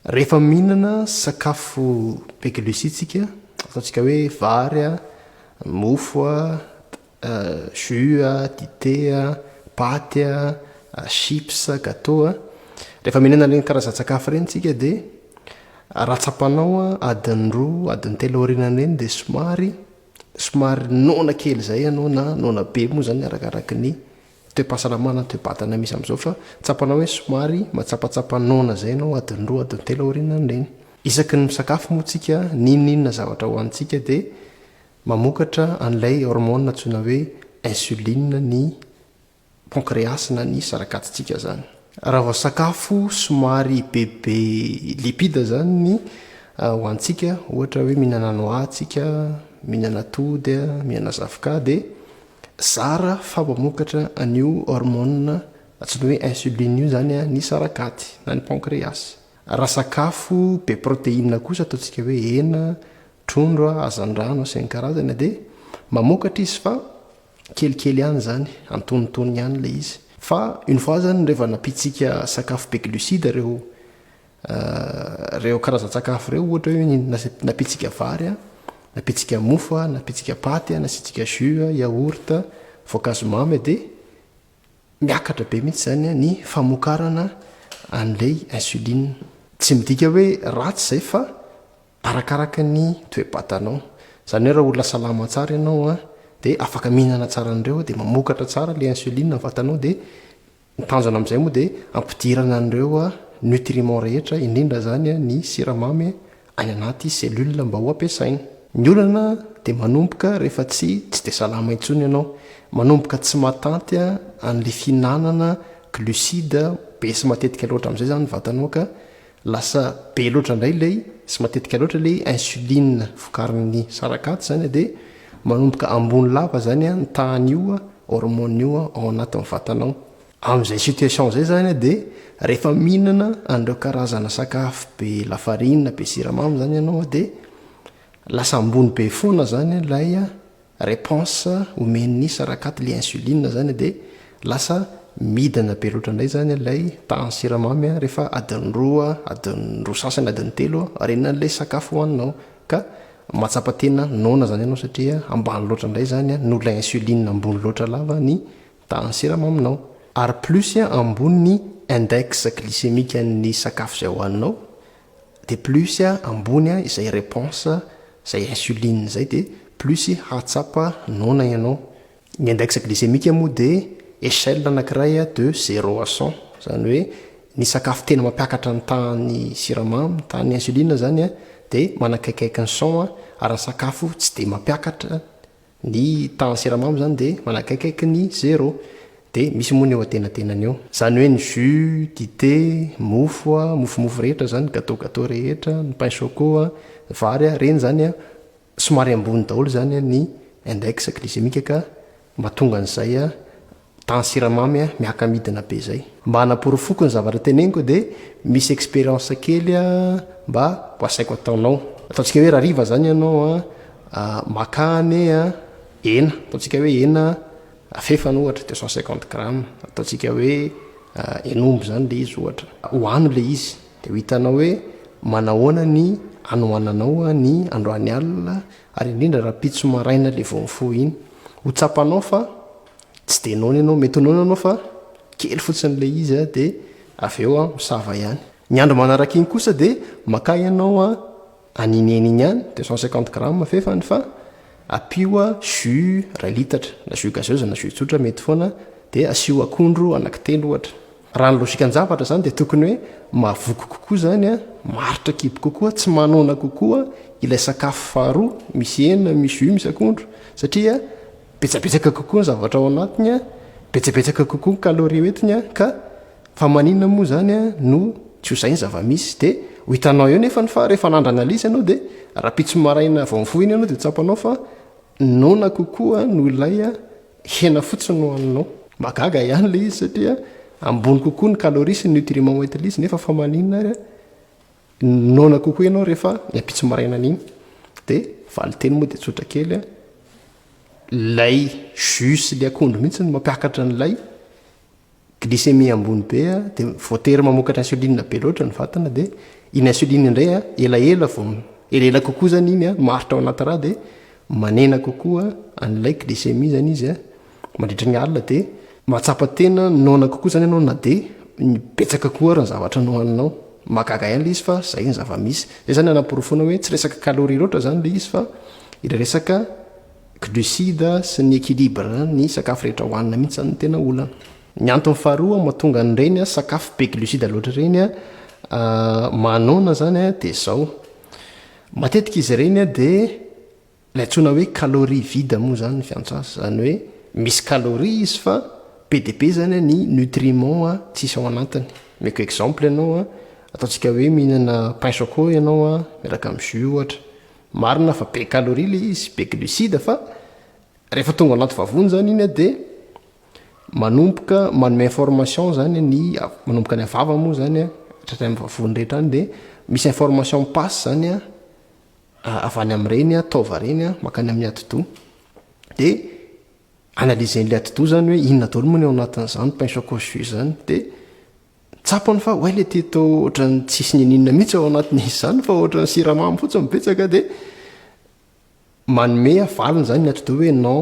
Rehefa mihinana sakafo be glucides tsika, ataontsika hoe vary a, mofo a, euh, jus a, dite a, paty a, chips, gateau a, rehefa mihinana ireny karazan-tsakafo ireny tsika dia raha tsapanao adiny roa, adiny telo aorianan'ireny dia somary somary noana kely izay ianao na noana be moa izany arakaraka ny toe-pahasalamana ny toe-batana misy amin'izao fa tsapanao hoe somary matsapatsapa noana izay ianao adiny roa adiny telo aorianan'ireny. Isaky ny misakafo moa isika n'inon'inona zavatra hohanintsika dia mamokatra an'ilay hormone antsoina hoe insuline ny pancreas na ny sarakatsitsika izany. Raha vao sakafo somary bebe lipide izany ny ho antsika, ohatra hoe mihinana noix tsika, mihinana atody, mihinana zavoka dia zara fa mamokatra an'io hormone antsoina hoe insuline io izany ny sarakaty na ny pancreas. Raha sakafo be protéine kosa ataontsika hoe hena, trondro, hazandrano sy ny karazany dia mamokatra izy fa Kelikely ihany izany, antonontonony ihany ilay izy. Fa une fois izany rehefa nampitsika sakafo be glucides ireo ireo karazan-tsakafo ireo, ohatra hoe nampitsika vary, nampitsika mofo, nampitsika paty, nasiantsika jus, yaourt, voankazo mamy dia miakatra be mihitsy izany ny famokarana an'ilay insuline. Tsy midika hoe ratsy izay fa. Arakaraka ny toe-batanao. Izany hoe raha olona salama tsara ianao a, dia afaka mihinana tsara an'ireo, dia mamokatra tsara ilay insuline ny vatanao, dia ny tanjona amin'izay moa dia hampidirana an'ireo nutriments rehetra, indrindra izany ny siramamy any anaty cellules mba ho ampiasaina. Ny olana dia manomboka rehefa tsy tsy dia salama intsony ianao, manomboka tsy mahatanty an'ilay fihinanana glucides be sy matetika loatra amin'izay izany ny vatanao ka, Lasa be loatra indray ilay sy matetika loatra ilay insuline vokarin'ny sarakaty izany dia manomboka ambony lava izany ny tahan'io hormone io ao anatin'ny vatanao. Amin'izay situation izay izany dia rehefa mihinana an'ireo karazana sakafo be lafarinina, be siramamy izany ianao dia lasa ambony be foana izany ilay Reponse omen'ny sarakaty le insuline zany de lasa midina be loatra indray zany ilay tahan'ny siramamy rehefa adin'ny roa, adin'ny roa sasany, adin'ny telo ariana an'ilay sakafo hoaninao ka mahatsapa tena noana zany ianao satria ambany loatra indray zany noho ilay insuline ambony loatra lava ny tahan'ny siramaminao. Ary plus ambony ny index glycemique an'ny sakafo izay hoaninao de plus ambony izay reponse izay insuline izay de plus hahatsapa noana ianao, ny index glycemique moa de echelle anakiray de zero à cent izany hoe ny sakafo tena mampiakatra ny tahan'ny siramamy, ny tahan'ny insuline izany de manakaikaiky ny cent ary ny sakafo tsy de mampiakatra Ny tahan'ny siramamy izany dia manakaikaiky ny zéro. Dia misy moa ny eo antenatenany eo. Izany hoe ny jus, dite, mofo, mofomofo rehetra izany, gateau gateau rehetra, ny pain choco, ny vary, ireny izany somary ambony daholo izany ny index glycémique ka mahatonga an'izay Dans siramamy a, miaka-midina be zay. Mba hanaporofoko ny zavatra teneniko dia misy experience kely a mba ho asaiko ataonao. Ataontsika hoe rariva zany ianao a, makà anie a, hena, ataontsika hoe hena afefana ohatra deux cent cinquante grammes, ataontsika hoe hen'omby zany le izy ohatra. Ohano le izy dia ho hitanao hoe manahoana ny hanohananao ny androany alina ary indrindra raha pitso maraina le vao mifoha iny. Ho tsapanao fa Tsy dia noana ianao, mety ho noana ianao fa kely fotsiny ilay izy dia avy eo aho misava ihany. Ny andro manaraka iny kosa dia makà ianao an'iniany iny ihany, deux cent cinquante grammes fefany fa ampio jus iray litatra, na jus gazeuse na jus tsotra mety foana, dia asio akondro anankitelo ohatra. Raha ny logikan-javatra izany dia tokony hoe mahavoky kokoa izany, maharitra kibo kokoa, tsy manoana kokoa ilay sakafo faharoa misy hena, misy jus, misy akondro satria Betsabetsaka kokoa ny zavatra ao anatiny, betsabetsaka kokoa ny calorie hoentiny ka fa maninona moa izany no tsy ho zay ny zava-misy? Dia ho hitanao eo nefany fa rehefa nandra analyse ianao dia rahampitso maraina vao mifoha iny ianao dia tsapanao fa noana kokoa noho ilay hena fotsiny nohaninao. Mahagaga ihany ilay izy satria ambony kokoa ny calorie sy ny nutriment hoentin'izy nefa fa maninona ary? Noana kokoa ianao rehefa ny ampitso maraina an'iny dia valinteny moa dia tsotra kely a lay jus le akondro mihitsy ny mampiakatra an'ilay glycémie ambony be a dia voatery mamokatra insuline be loatra ny vatana dia iny insuline indray a elaela vao elaela kokoa zany iny a maritra ao anaty rà dia manena kokoa an'ilay glycémie zany izy a Mandritra ny alina dia mahatsapa tena noana kokoa izany ianao na dia betsaka koa ary ny zavatra nohaninao. Mahagaga ihany ilay izy fa izay ny zava-misy. Izay izany hanaporofoana hoe tsy resaka calories loatra izany ilay izy fa ilay resaka glucides sy ny équilibre ny sakafo rehetra hohanina mihitsy izany no tena olana. Ny antony faharoa mahatonga an'ireny sakafo be glucides loatra ireny mahanoana izany dia izao, matetika izy ireny dia Ilay antsoina hoe calorie vide moa izany ny fiantrasa, izany hoe misy calorie izy fa be dia be izany ny nutriments tsisy ao anatiny. Omeko exemple ianao, ataontsika hoe mihinana pain choco ianao miaraka amin'ny jus ohatra. Marina fa be calorie ilay izy, be glucides fa rehefa tonga ao anaty vavony izany iny dia manomboka manome information izany ny, manomboka any amin'ny vava moa izany hatrany amin'ny vavony rehetra any dia misy information mi-passe izany, avy any amin'ireny taova ireny mankany amin'ny atidoha dia analyser-n'ilay atidoha izany hoe inona daholo moa ny ao anatin'izany pain chocolat jus izany dia tsapany fa oay ilay teto ohatran'ny tsisy n'inon'inona mihitsy ao anatin'izy izany fa ohatran'ny siramamy fotsiny no betsaka dia manome valiny izany ny atidoha hoe non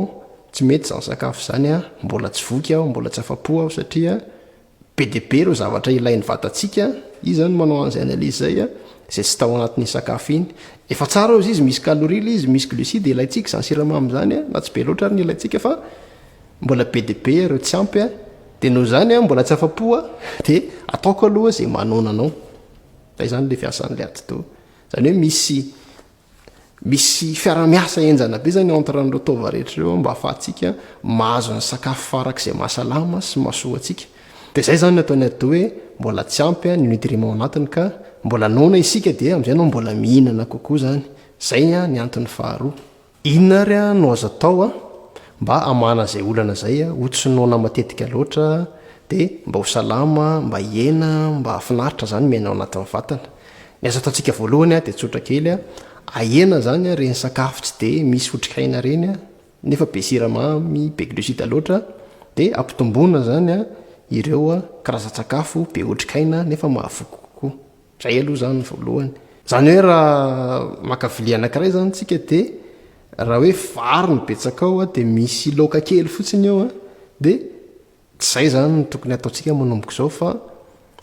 tsy mety izany sakafo izany mbola tsy voky aho mbola tsy afa-po aho satria Be dia be ireo zavatra ilain'ny vatantsika, iza izany no manao an'izay analyse izay a, izay tsy tao anatin'iny sakafo iny. Efa tsara hozy izy misy calorie ilay izy, misy glucides ilaintsika izany siramamy izany a, na tsy be loatra ary ny ilaintsika fa mbola be dia be ireo tsy ampy a, dia noho izany aho mbola tsy afa-po a, dia ataoko aloha izay manona anao. Fa izany ilay fiasan'ilay atidoha. Izany hoe misy. Misy fiarahamiasa henjana be zany entre an'ireo taova rehetra ireo mba afahantsika mahazo ny sakafo farak'izay mahasalama sy mahasoa antsika. Dia izay izany no ataon'ny atidoha hoe mbola tsy ampy ny nutriments ao anatiny ka mbola noana isika dia amin'izay no mbola mihinana kokoa izany. Izay ny antony faharoa. Inona ary no azo atao mba hamahana izay olana izay ho tsy noana matetika loatra dia mba ho salama, mba hihena, mba hahafinaritra izany miaina ao anatin'ny vatana. Ny azo ataontsika voalohany dia tsotra kely, ahena izany ireny sakafo tsy dia misy otrikaina ireny nefa be siramamy, be glucides loatra dia ampitomboina izany ireo karazan-tsakafo be otrikaina nefa mahavoky kokoa. Izay aloha izany ny voalohany. Izany hoe raha maka vilia anankiray izany isika dia raha hoe vary no betsaka ao dia misy laoka kely fotsiny eo dia Tsy izay izany no tokony hataontsika manomboka izao fa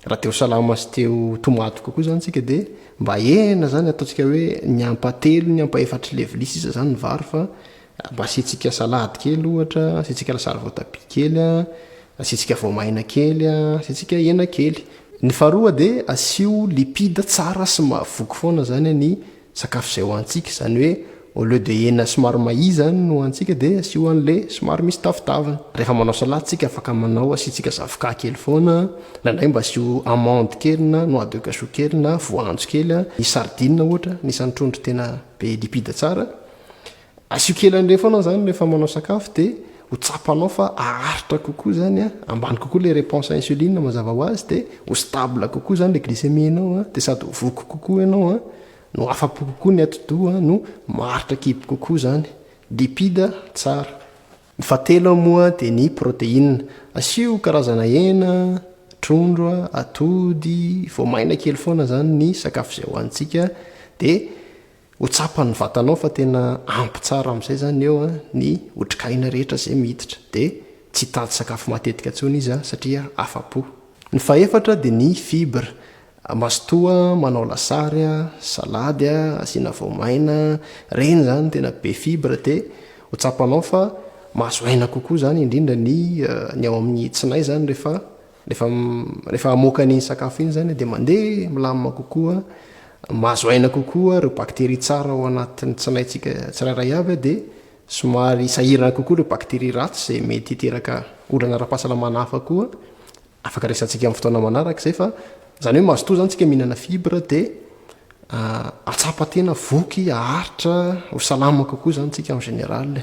raha te ho salama sy te ho tomady kokoa izany isika dia mba ahena izany ataontsika hoe ny ampahatelony, ampahefatr'i levily sisa izany ny vary fa mba asiantsika salady kely ohatra, asiantsika lasary voatabia kely a, asiantsika voamaina kely a, asiantsika hena kely. Ny faharoa dia asio lipida tsara sy mahavoky foana izany ny sakafo izay hohanintsika, izany hoe au lieu de hena somary mahia izany no hohanintsika dia asio an'ilay somary misy tavitaviny, rehefa manao salade tsika afaka manao asiantsika zavoka kely foana, indraindray mba asio amande kely na noix de cachou kely na voanjo kely, ny sardines ohatra anisan'ny trondro tena be lipide tsara, Asio kely an'ireny foana izany rehefa manao sakafo dia ho tsapanao fa haharitra kokoa izany an, ambany kokoa ilay reponse à insuline mazava ho azy dia ho stable kokoa izany ilay glycémie anao an, dia sady ho voky kokoa ianao an, no afa-po kokoa ny atidoha an, no maharitra kibo kokoa izany. Lipide tsara. Ny fahatelo moa dia ny protéine. Asio karazana hena, trondro, atody, voamaina kely foana izany ny sakafo izay hohanintsika dia. Ho tsapan'ny vatanao fa tena ampy tsara amin'izay izany eo ny otrik'aina rehetra izay miditra. Dia tsy hitady sakafo matetika intsony izy satria afa-po. Ny fahefatra dia ny fibres. Mazotoa manao lasary, salady asiana voamaina, ireny izany tena be fibres dia ho tsapanao fa mahazo aina kokoa izany indrindra ny ny ao amin'ny tsinay izany rehefa Rehefa rehefa hamoaka an'iny sakafo iny izany dia mandeha milamina kokoa, mahazo aina kokoa ireo bakteria tsara ao anatin'ny tsinaintsika tsirairay avy dia somary sahirana kokoa ireo bakteria ratsy izay mety hiteraka olana ara-pahasalamana hafa koa afaka resantsika amin'ny fotoana manaraka izay fa izany hoe mazotoa izany tsika mihinana fibre dia ah, atsapa-tena voky, aharitra, ho salama kokoa izany tsika en général.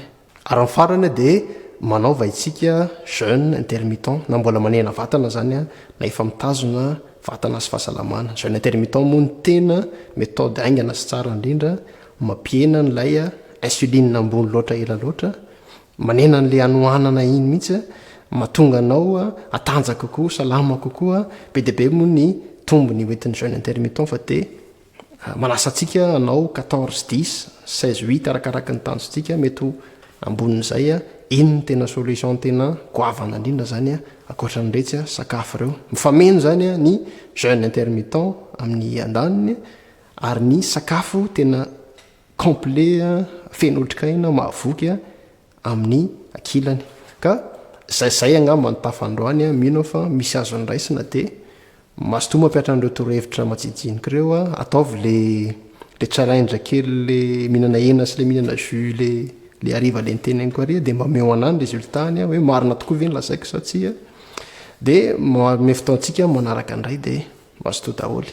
Ary ny farany dia manaova isika jeune intermittent na mbola manena vatana zany na efa mitazona vatana sy fahasalamana. Jeune intermittent moa no tena methode haingana sy tsara indrindra, mampihena an'ilay insuline ambony loatra ela loatra, manena an'le hanohanana iny mihitsy, mahatonga anao hatanjaka kokoa, salama kokoa, be dia be moa ny tombony hoentin'ny jeune intermittent fa dia Manasa antsika hanao quatorze dix, seize huit arakaraky ny tanjontsika, mety ho ambonin'izay iny no tena solution tena goavana indrindra izany ankoatran'iretsy sakafo ireo. Mifameno izany ny jeune intermittent amin'ny andaniny ary ny sakafo tena complet feno otrikaina mahavoky amin'ny ankilany ka zay zay angamba ny tafa androany a, mino aho fa misy azo andraisina dia mazotoa mampiatra an'ireo torohevitra majijinika ireo a, ataovy le le challenge kely le mihinana hena sy le mihinana jus le le hariva le niteneniko ary dia mba omeo anah ny résultat ny a hoe marina tokoa ve ny lazaiko sa tsia dia manome fotoantsika manaraka indray dia mazotoa daholo.